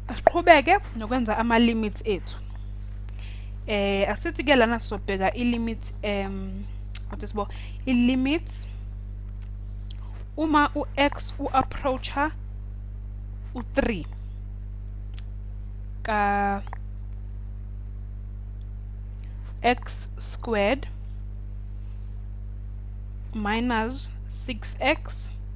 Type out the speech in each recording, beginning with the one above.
asiqhubeke nokwenza ama-limits ethu eh asithi ke lana sobheka i-limit um what is bo i-limit uma u-x u-approacha u-3 ka x squared minus 6x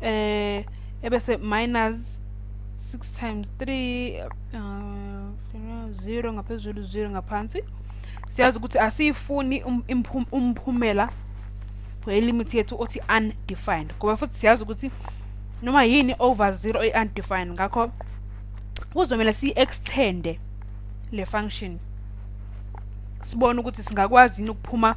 eh ebese minus 6 times 3 uh, 0 ngaphezulu 0 ngaphansi siyazi ukuthi asiyifuni um, umphumela welimit yethu othi undefined ngoba futhi siyazi ukuthi noma yini over 0 oyi-undefined ngakho kuzomele siyi-extende le function sibone ukuthi singakwazi yini ukuphuma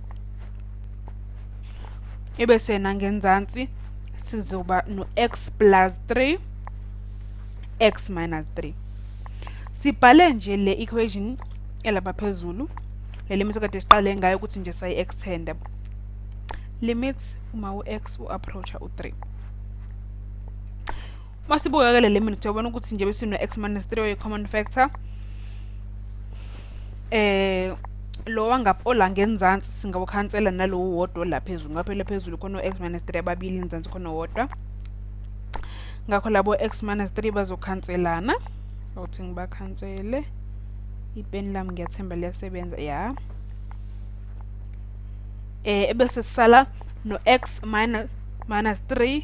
ebese nangenzansi sizoba no-x plus 3 x minus 3 sibhale nje le equation elapha phezulu le limit kade siqale ngayo ukuthi nje sayi-extenda limit uma u-x u-approacha u-3 uma sibukakele le minute uyabona ukuthi nje besino-x minus 3 oyi-common factor eh lo wangapha olange enzansi singawukhansela nalowo wodwa olaphezulu ngaphela phezulu khona u-x minus 3 ababili enzansi khona wodwa ngakho labo x minus 3 bazokhanselana awuthi ngibakhansele ipeni lami ngiyathemba liyasebenza ya eh ebese sisala no-x minus 3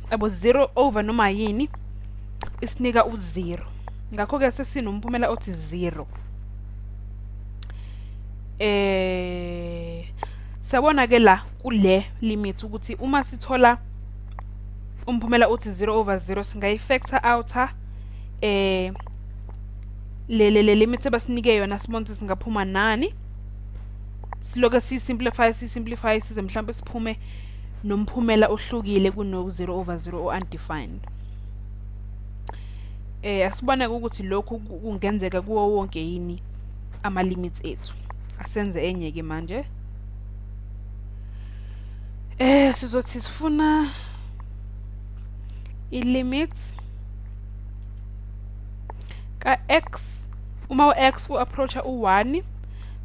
abo zero over noma yini isinika uzero ngakho-ke sesinomphumela othi zero eh sabona ke la kule limit ukuthi uma sithola umphumela uthi 0 over 0 singayifactor outer eh le le le limit abasinike yona sibone ukuthi singaphuma nani siloke si simplify si simplify size mhlawumbe siphume nomphumela ohlukile kuno-0 over 0 o-undefined eh asibona ukuthi lokhu kungenzeka kuwo wonke yini ama limits ethu asenze enye ke manje eh sizothi sifuna i limits ka x uma u x u approacha u 1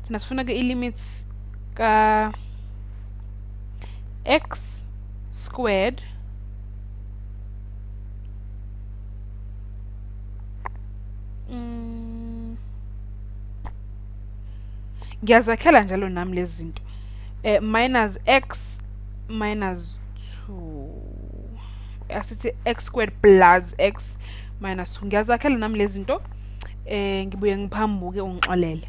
thina sifuna ke i limits ka x squared mm. ngiyazakhela njalo nami lezi zinto eh, minus x minus 2 asithi x squared plus x minus 2 ngiyazakhela nami lezi zinto eh ngibuye ngiphambuke ungixolele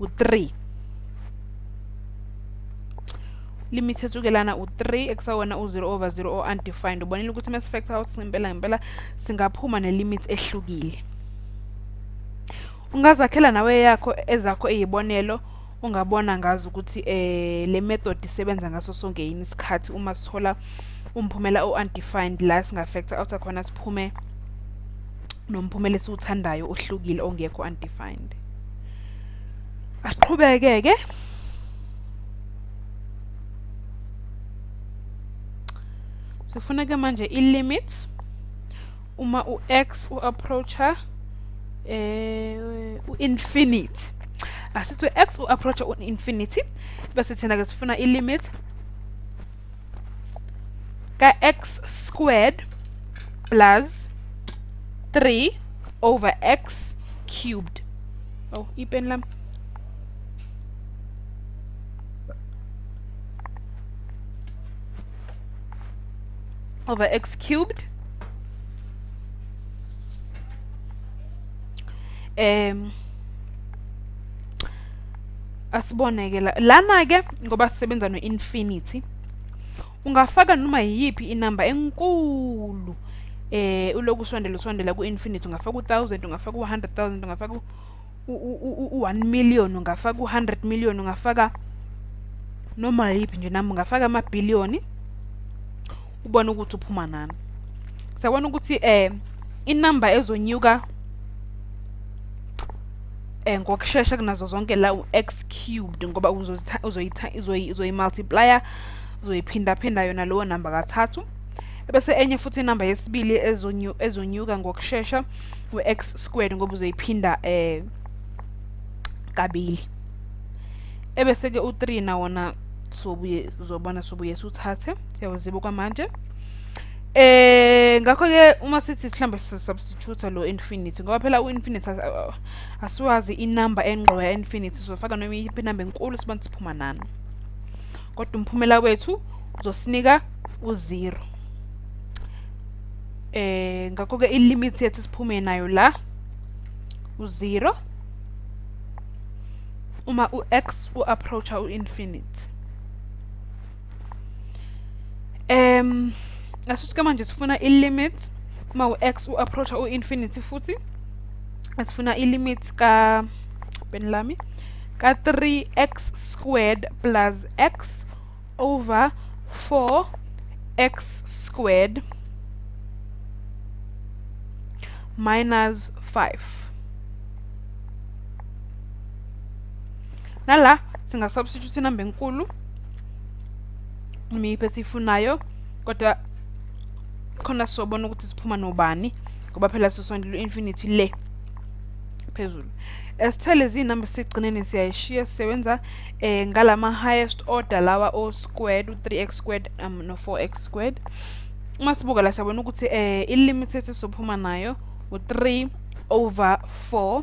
u-3 limit etsukelana u-3 ekusawona u-0 over 0 o-undefined ubonile ukuthi uma sifactor out ngempela ngempela singaphuma ne-limit ehlukile ungazakhela nawe yakho ezakho eyibonelo ungabona ngazi ukuthi eh le method isebenza ngaso sonke yini isikhathi uma sithola umphumela o-undefined la singafactor out khona siphume nomphumela esiwuthandayo ohlukile ongekho undefined asiqhubeke ke sifuna ke manje i-limits uma u-x u-approacha eh u-infinity asithi u-x u-approacha u-infinity bese thina ke sifuna i-limit ka-x squared plus 3 over x cubed oh ipeni lami over x cubed um asiboneke la lana ke ngoba sisebenza no infinity ungafaka noma yiyiphi inamba enkulu eh uloku usondela usondela ku infinity ungafaka u1000 ungafaka u100000 ungafaka u1 million ungafaka u100 million ungafaka noma yiphi nje nami ungafaka ama billion ubone ukuthi uphuma nani siyabona ukuthi eh inamba ezonyuka eh ngokushesha kunazo zonke la u-x cubed ngoba uzoyi-multiplier uzoyiphinda-phinda yona lowo namba kathathu bese enye futhi inamba yesibili ezonyuka ngokushesha u-x squared ngoba uzoyiphinda eh kabili ebese-ke u-3 nawona sobuye uzobona sobuye siwuthathe siyawuziba kwamanje eh ngakho-ke uma sithi sihlambe sisubstitute shutha lo infinity ngoba phela u-infinity asiwazi inumber engqo ya-infinity sofaka noma iyiphi inumber enkulu sibona siphuma nani kodwa umphumela wethu uzosinika uzero eh ngakho-ke ilimit yethu siphume nayo la uzero uma u-x u-approacha u-infinity um ngasisike manje sifuna i-limit uma u-x u-approacha u-infinity futhi sifuna i-limit ka bheni lami ka-3x squared plus x over 4x squared minus 5 nala singasubstitute inamba enkulu imiphi esiyifunayo kodwa khona sobona ukuthi siphuma nobani ngoba phela sisondela u-infinity le phezulu esithele izinamba sigcineni siyayishiya sisebenza eh ngalama highest order lawa o squared u3x squared um no 4x squared uma sibuka la siyabona ukuthi eh i limit esizophuma nayo u3 over 4